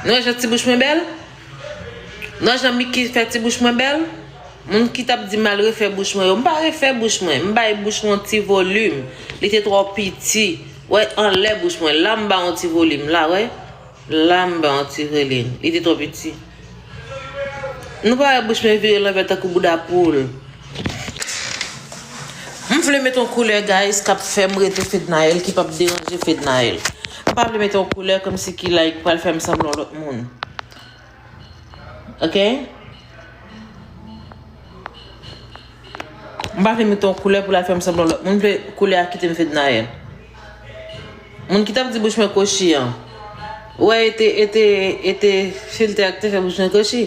Nan jan ti bouch mwen bèl? Nan jan Micky fè ti bouch mwen bèl? Moun ki tap di mal refè bouch mwen yo, m pa refè bouch mwen, m bay bouch mwen yon ti volim, li te twò piti, wè anlè bouch mwen, la m ba yon ti volim, la wè, la m ba yon ti volim, li te twò piti. Nou pa wè bouch mwen vire lanvè tankou bouda poul. M vle met yon koulè guys kap fèm rete fednaelle ki pap deranje fednaelle m pa vle met yon koulè komsi ki like pral fèm sanble yon lòt moun ok m pa vle met yon koulè pou lal fèm sanble yon lòt moun m vle koulè a kitem fednaelle moun ki tap di bouch mwen kochi an ou wè e te e te e te filtè a ki te fè bouch mwen kochi.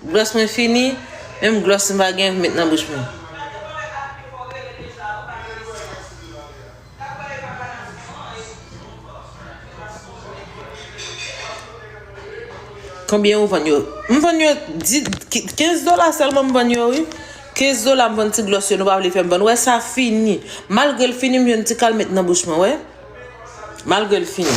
Glòs mwen fini, menm glòs m pa gen met nan bouch mwen. Konbyen ou vann yo? M vann yo 15 dola sèlman m vann yo wi. 15 dola m vann ti glòs yo nou pa vle fè m vann. Wè sa fini. Malgre l fini m jwenn ti kal met nan bouch mwen wè. Malgre l fini.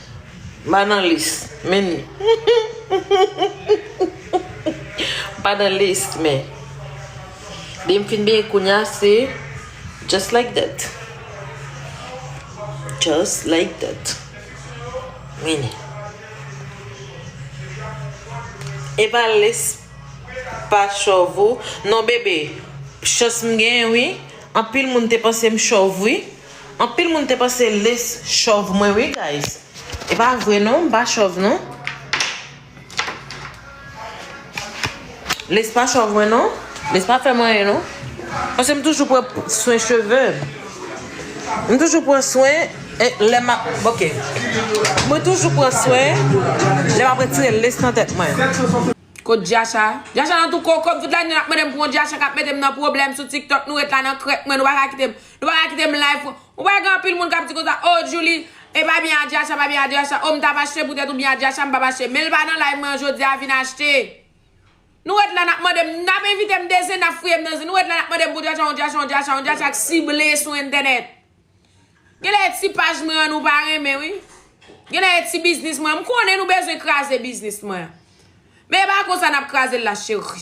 Mpa nan list men Mpa nan list men Depi m fin benyen kounya se Just like that Just like that Men Epa list pa chòv ou non bebe Chans m gen wi Anpil moun te panse m chòv wi. Anpil moun te panse les chòv mwen wi guys epa vre non m pa chòv non les pa chòv mwen non les pa fèm anyen non paske m toujou pran swen cheve m toujou pran swen lè map ok mwen toujou pran swen lè map retire les nan tèt mwen. Kot Jacha? Jacha nan tou koko m tout lane nap mande m pou yon Jacha kap mete m nan pwoblèm sou tiktok nou ret la nan krèk mwen nou paka kite m Nou paka kite m live pou. Ou pa wè gen anpil moun kap di konsa oh Djouly e pa byen Adiacha pa byen Adiacha oh m tap achte poutèt ou byen Adiacha m pap achte menl pa nan live mwen an jodia vin achte Nou ret la nap mande m nap envite m de zin nap fouye m nan zin nou ret la nap mande m pou Diacha yon Diacha yon Diacha yon Diacha k sible sou entènèt Genlè e ti paj mwen an nou pa renmen wi Genlè e ti biznis mwen an m konnen nou bezwen kraze biznis mwen an men e pa konsa nap kraze l la cheri.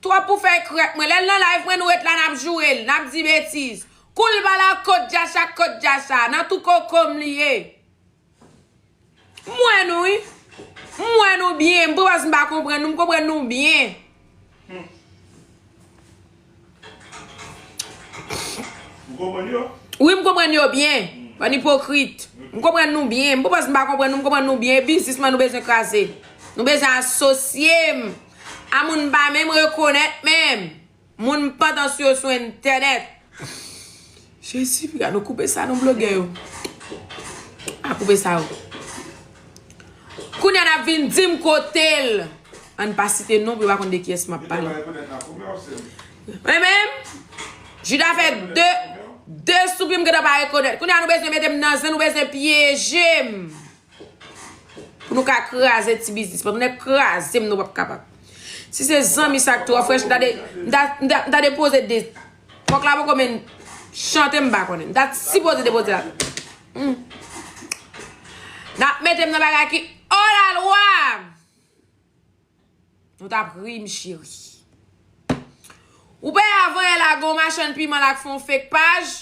Trop pou fèy krèk mwen lèl nan live mwen nou ret la nap jourel nap di betiz koul bala kot dja sa kot dja sa nan tou kokom li ye m wè nou wi m wè nou byen m pwaz m pa konprann nou m konprann nou byen wi m konprann yo byen bann ipokrit m konprann nou byen m pwaz m pa konprann nou m konprann nou byen bizisman nou bezwen kraze nou bezwen asosye m. A moun pa menm rekonèt menm. Moun pandan sou yo sou entènèt. Jezi piga nou koupe sa non blogè yo. A koupe sa yo. Kounya nap vin dim kotel. Ann pa site non pou yo pa konn de kiyès map pale. Mwen menm Juda fè 2 2 soupi m gentan pa rekonèt. Kounya nou bezwen metem nan zen nou bezwen pyejem. Pou nou ka kraze ti biznis. Pou nou kraze m nou pap kapab. Si se zanmi sa ki tro frech. M ta depoze de. Fok la poko men chante m pa konen. M ta sipoze depoze la. Nap mete m nan bagay ki olalwa. Nou tap ri m cheri. Ou pa ya voye la gon machann piman la k fon fake paj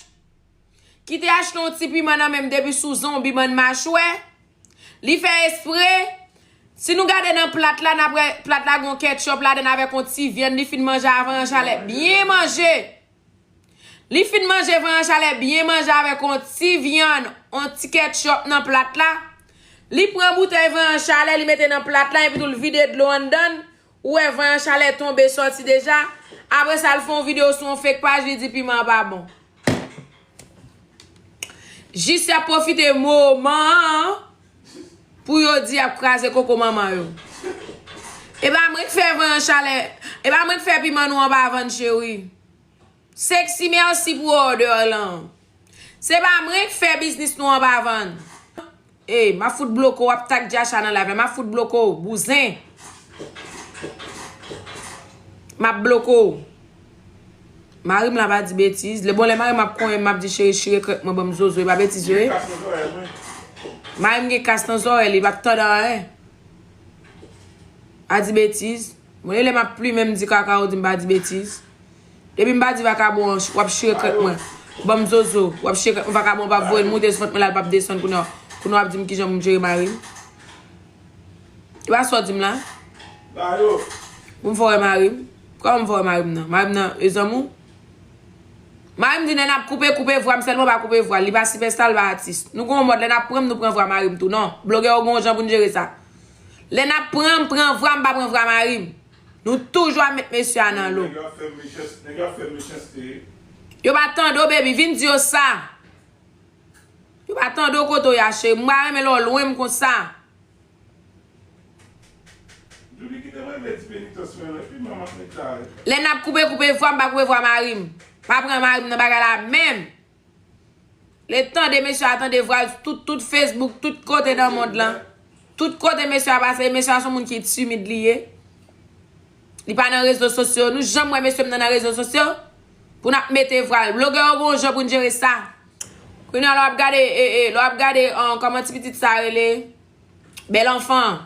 ki te achte yon ti piman nan menm depi sou zonbi bann machwè li fè espre si nou gade nan plat la nap wè plat la gon ketchup ladann avèk yon ti vyann li fin manje avan yon chalè byen manje. Li fin manje van an chalè byen manje avèk on ti vyann, on ti ketchup nan plat la, li pran boutèy van an chalè li mete nan plat la epitou l vide dlo anndan l, ou wè van an chalè tonbe sòti deja, apre sa l fè on video sou on fake paj li di piman an pa bon. Jisya pwofite moman an. Pou yo di yap kraze koko manman yo. Epa mwen k fè van an chalè. Epa mwen k fè piman nou an pa vann cheri. Sexy merci pou order lan. Se pa mwen k fè biznis nou an pa vann. Ey map fout bloke w wap tag Jachan nan live la map fout bloke w bouzen. Map bloke w. Mari m la pa di betiz. Bon lè mari m ap konyen m, m ap di cheri chire krèk mwen ban m zozo. E pa betiz yo ye. Mari m gen kas nan zorèy li, li pa p tande anyen. Pa di betiz. Bon e lè m ap plimen m di kaka ou di m pa di betiz. Depi m pa di vakabon an, w ap chire krèk mwen ban m zozo. W ap chire krèk mwen, vakabon an pa p voye l moute sou vant mwen la, l pa p desann kounye an. Kounye an w ap di m kijan pou m jere mari m. E pa sa w di m la. Pou m fè w wè mari m. Kòman m voye mari m nan? Mari m nan e zanmi w? Mari m di lè n ap koupe, koupe vwa m sèlman pa koupe vwa l. Li pa sipèsta, li pa atis. Nou gen yon mòd lè n ap pran m, nou pran vwa mari m tou. Non, blogè yo gen yon jan pou n jere sa. Lè n ap pran m, pran vwa m pa pran vwa mari m. Nou toujou ap met mesye a nan lo. Nèg yo ap fè mechanste wi. Yo pa tande w baby, vin di yo sa. Yo pa tande w kote w ye a cheri. M pa renmen lè w lwen m konsa. Lè nap koupe koupe vwam pa koupe vwa marim pa pran marim nan bagay la menm lè tande mesye a tande vwal tout tout facebook tout kote nan mond lan tout kote mesye a pase mesye a son moun ki timid li ye. Li pa nan rezo sosyo. Nou janm wè mesye m nan nan rezo sosyo? Pou n ap mete vwal. Blogè yo gen yon jan pou n jere sa. Kounye a lè w ap gade e e. Lè w ap gade kòman ti pitit sa rele? Bèl anfan.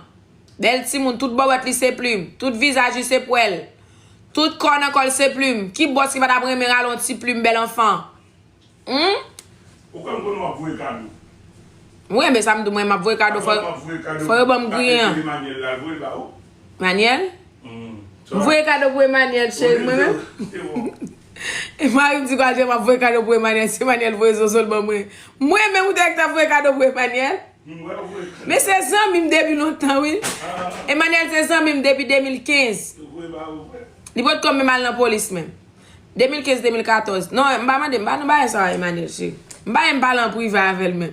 Bèl timoun. Tout bòbòt li se plim. Tout vizaj li se pwèl. Tout kò nan kò l se plim. Ki bòs ki pa t ap renmen rale yon ti plim bèl anfan? Humm. Ou kwè m konnen wap voye kado. Mwen men sa m di mwen map voye kado fò fò yo banm griyen an. Emanyèl la voye l ba ou. Manyèl? M voye kado pou Emanyèl cheri mwen menm. Se bon. E mari m di gwa jan map voye kado pou Emanyèl si Emanyèl voye zozo l ban mwen. Mwen menm ou te wè ki tap voye kado pou Emanyèl? M wè w voye kado. Men se zanmi m depi lontan wi. Emanyèl se zanmi m depi 2015. Li voye ba ou vre? Li potko menm al nan polis menm. 2015 2014 non m pa mande m pa nan bagay sa a Emmanuel chéri m pa e m pale an prive avèl menm.